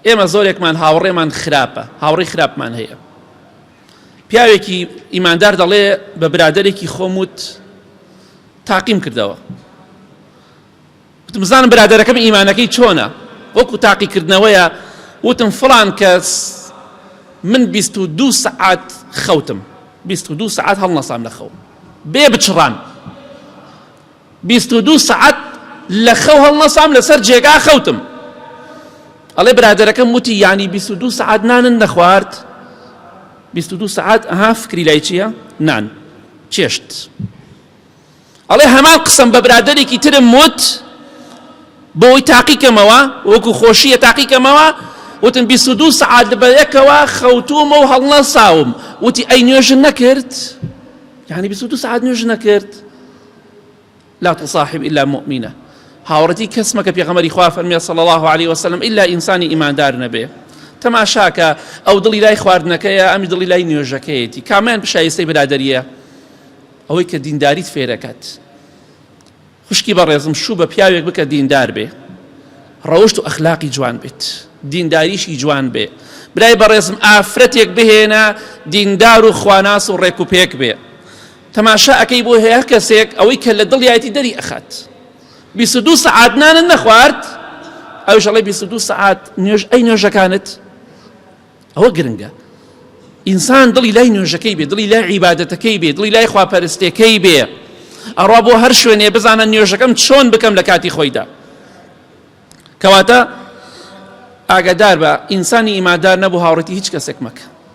ئێمە زۆرێکمان هاوڕێمان خراپە، هاوڕێی خراپمان هەیە. پیاوێکی ئیماندار دەڵێ بە برادەرێکی خۆم وت تاقیم کردەوە وتمزانم برادەرەکەم ئیمانەکەی چۆنە وەکو تاقیکردنەوەیە وتم فڵان کەس من بیست و دوو سعات خەوتم بیست و دوو سعات هەڵنەسام لە خەو بێ بچڕان بیست و دوو سەعات لەخەو هەڵنەسام لەسەر جێگا خەوتم ئەڵێ برادەرەکەم وتی یعنی بیست و دوو سەعات نانن نەخوارد بیست و دوو سەعات ئەها فکری لای چییە نان چێشت ئەڵێ هەمان قسەم بە برادێکی ترم وت بۆی تاقیکەمەوە وەکو خۆشیە تاقیکەمەوە وتم بیست و دوو سەعات بە یەکەوە خەوتومە و هەڵنە ساوم وتی ئەی نوێژن نەکرد یعنی بیست و دوو سەعات نوێژ نەکرد لا تصاحب الا مؤمنە هاوڕێتی کەس مەکە پێغەمەری خوا فەرمیێ صلی الله عليه وسلم الا ئینسانی ئیماندار نەبێ تەماشاکە ئەو دڵی لای خواردنەکەیە ئەمی دڵی لای نوێژەکەیەتی کامیان پیشایستەی برادریە ئەوەی کە دینداریت فێرەکەت خوشکی بەڕێزم شوو بە پیاوێک بکە دیندار بێ ڕەوشت و ئەخلاقی جوان بێت دینداریشی جوان بێ برای بەڕێزم ئافرەتێک بهێنە دیندار و خواناس و ڕێک و پێک بێ تەماشا ئەکەی بۆ هەیە کەسێک ئەوەی کە لە دڵیایەتی دەری ئەخات بیست و دوو سەعات نانت نەخوارد ئەوش ئەڵێ بیست و دوو سەعات نوێژ ئەی نوێژەکانت ئەوە گرنگە ئینسان دڵی لای نوێژەکەی بێ دڵی لای عیباەتەکەی بێ دڵی لای خواپەرستەکەی بێ ئەڕا بۆ هەر شوێنێ بزانە نوێژەکەم چۆن بکەم لە کاتی خۆیدا کەواتە ئاگادار بە ئینسانی ئیمادار نەبوو هاوڕێتی هیچ کەسێک مەکە